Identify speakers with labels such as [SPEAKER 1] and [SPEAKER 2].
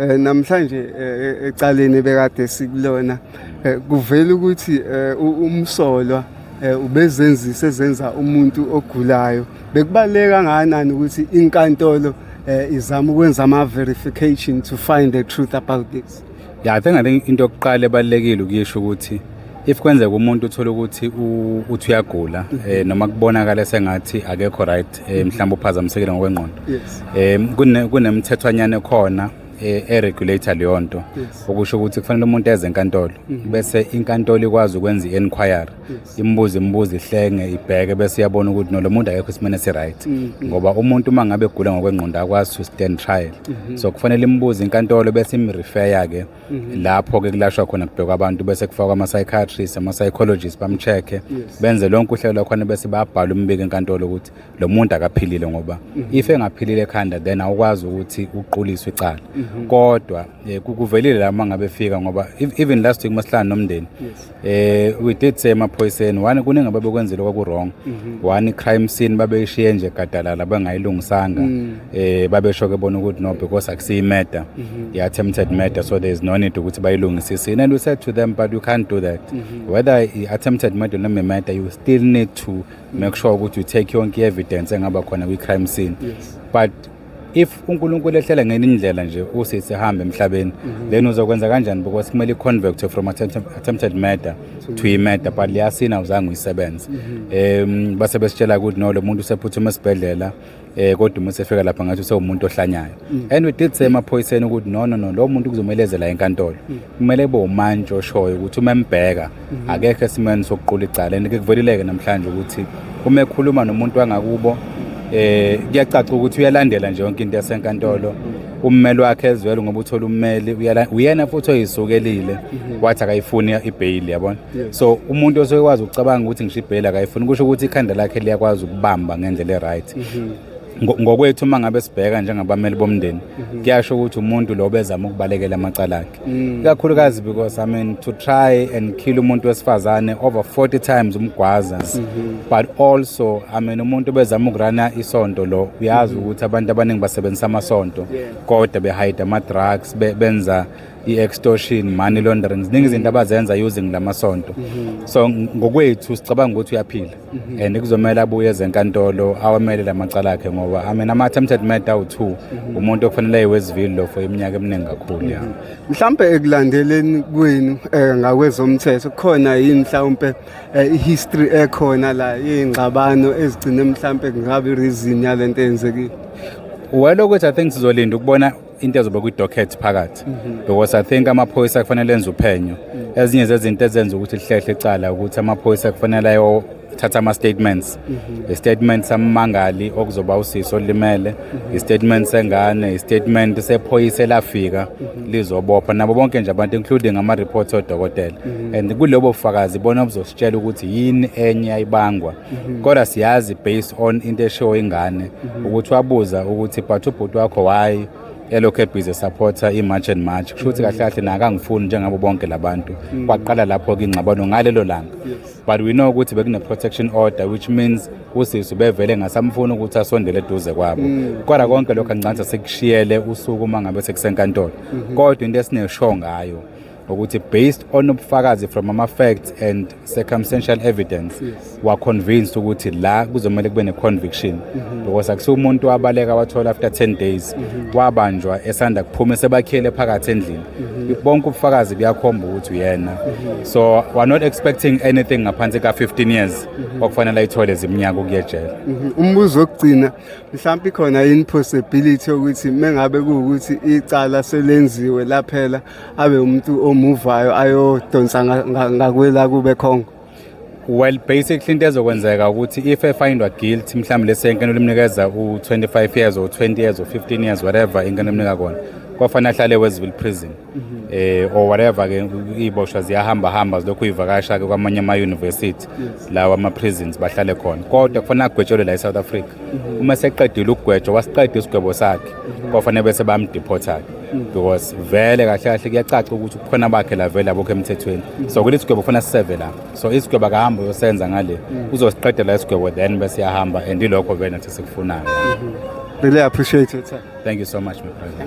[SPEAKER 1] Eh, namhlanje eh, eh, ecaleni bekade sikulona kuvela ukuthi umsolwa ubezenzisa ezenza umuntu ogulayo bekubaleka kangakanani ukuthi inkantolo izama ukwenza ama-verification to find the truth about this ya i think i think
[SPEAKER 2] into yokuqala ebalulekile ukuyisho ukuthi if kwenzeka umuntu uthole ukuthi uthi uyagula um noma kubonakala sengathi akekho right addict eh, mhlawumbe uphazamisekile ngokwengqondo
[SPEAKER 1] um kunemthethwanyana
[SPEAKER 2] ekhona eh, eregulator leyo nto okusho ukuthi kufanele umuntu eze enkantolo mhm. bese inkantolo ikwazi ukwenza i-enquiry imbuze imbuze ihlenge ibheke bese iyabona ukuthi nolo muntu akekho isimeni esi-right mhm. ngoba umuntu uma ngabe egula ngokwengqondo akwazi to stand trial mhm. so kufanele imbuze inkantolo bese imrifeya-ke Mhm. lapho ke kulashwa khona kubhekwa abantu bese kufakwa ama-psychiatrist ama-psychologist bamcheck-e benze lonke uhlelo lwakhona bese babhala umbiko enkantolo ukuthi lo muntu akaphilile ngoba mhm. if engaphilile ekhanda then awukwazi ukuthi uquliswe icala mhm. kodwa um kuvelile la uma ngabe fika ngoba even last week masihlala nomndeni eh we did say emaphoyiseni one kuningi ababekwenzile kwaku-wrong mhm. one i-crime scene babeyishiye nje gadalala bangayilungisanga mm. eh babesho-ke bona ukuthi no because akusiyimeda mhm. i-attempted murder so there is no need ukuthi bayilungisisini and we said to them but you can't do that mhm. whether i-attempted murder noma imurder you still need to make sure ukuthi you take yonke i-evidence engaba khona kwi-crime scene but if uNkulunkulu ehlela ngenye indlela nje usisi hambe emhlabeni mhm. then uzokwenza kanjani because kumele i-convert from attempted murder to i-murder but liyasina uzange uyisebenze um base besitshela ukuthi no lo muntu usephuthuma esibhedlela eh kodwa uma sefika lapha ngathi usewumuntu ohlanyayo mhm. and we did say emaphoyiseni ukuthi no no no lo muntu kuzomelezela enkantolo kumele kube umantshi oshoyo ukuthi uma embheka mhm. akekho esimeni sokuqula icala and kuvelileke namhlanje ukuthi uma ekhuluma nomuntu wangakubo eh kuyacaca ukuthi uyalandela nje yonke into yasenkantolo mhm. ummeli wakhe ezwele ngoba uthola ummeli uyena futhi oyisukelile mhm. wathi akayifuni ibail yabona so umuntu osokwazi ukucabanga ukuthi ngisho ibail akayifuni kusho ukuthi ikhanda lakhe liyakwazi ukubamba ngendlela eright ngokwethu uma ngabe sibheka njengabameli bomndeni mhm. kuyasho ukuthi umuntu lo bezama ukubalekela amacala akhe mm. ikakhulukazi because i mean to try and kill umuntu wesifazane over 40 times umgwaza mhm. but also i mean umuntu bezama ukurana isonto lo uyazi mhm. ukuthi abantu abaningi basebenzisa amasonto kodwa behide ama-drugs benza i-extortion money laundering ziningi izinto abazenza using la masonto so ngokwethu sicabanga ukuthi uyaphila Mhm. and kuzomele abuye ezenkantolo awamele la macala akhe ngoba i mean ama-attempted murder awu-two mhm. umuntu okufanele ayiwezivili lo for iminyaka eminingi kakhulu ya mhm. mhlawumpe
[SPEAKER 1] ekulandeleni kwenu um ngakwezomthetho kukhona yini mhlawumpe eh, i-history ekhona la yey'ngxabano ezigcine mhlawumpe kungabi reason yale nto eyenzekile well
[SPEAKER 2] ukuthi i think sizolinda ukubona into ezobe kwi-docket phakathi mhm. because i think amaphoyisa kufanele enze uphenyo mm. ezinye zezinto ezenza ukuthi lihlehle icala ukuthi amaphoyisa kufanele ayothatha ama-statements mhm. i-statement sammangali okuzoba usisi olimele mhm. i-statement sengane i-statement sephoyisa elafika lizobopha nabo bonke nje abantu including ama-reports odokotela and kulobo bufakazi bona obuzositshela ukuthi yini enye ayibangwa mhm. kodwa siyazi based on into eshiwo ingane mhm. ukuthi wabuza ukuthi but ubhuti wakho why elokhu ebhize supporter i-march and march kusho ukuthi mhm. kahle kahle nakangifuni njengabo bonke labantu kwaqala lapho-ke ingxabano ngalelo langa but we know ukuthi bekune-protection order which means usisi ubevele ngasamfuni ukuthi asondele eduze kwabo kodwa konke lokho angicanisa sekushiyele usuku uma ngabe sekusenkantolo kodwa into esineshow ngayo ukuthi based on ubufakazi from ama facts and circumstantial evidence yes. wa convinced ukuthi la kuzomele kube ne conviction mm -hmm. because akusiwo umuntu wabaleka wathola after 10 days mm -hmm. wabanjwa esanda kuphuma sebakhele phakathi endlini mm -hmm. bonke ubufakazi buyakhomba ukuthi uyena mm -hmm. so we are not expecting anything ngaphansi ka 15 years mm -hmm. okufanele ayithole ziminyaka ukuyejela mm -hmm. umbuzo wokugcina
[SPEAKER 1] mhlawumbe khona in possibility ukuthi mengabe kuwukuthi icala selenziwe laphela abe umuntu omuvayo ayodonsa ngakwela kube khongo well
[SPEAKER 2] basically into ezokwenzeka ukuthi if efindwa guilty mhlawumbe lesi yenkeno limnikeza u-25 years or 20 years or 15 years whatever inkeno limnika kona kwafanele ahlale weziville prison mhm. eh or whatever ke iboshwa ziyahamba hamba zilokhu ivakasha ke kwamanye ama university lawa ama prisons bahlale khona kodwa kufanele agwetshelwe la eSouth Africa mhm. uma seqedile ukugwetshwa wasiqeda isigwebo sakhe mhm. kwafanele bese bamdeporta ke because vele kahle kahle kuyacaca ukuthi kukhona bakhe la vele abokho emthethweni so kuthi isigwebo kufanele siseve la so isigwebo akahambe uyosenza ngale uzosiqedela isigwebo then bese yahamba and ilokho vele nathi sikufunayo really
[SPEAKER 1] appreciate your
[SPEAKER 2] time thank you so
[SPEAKER 1] much my
[SPEAKER 2] brother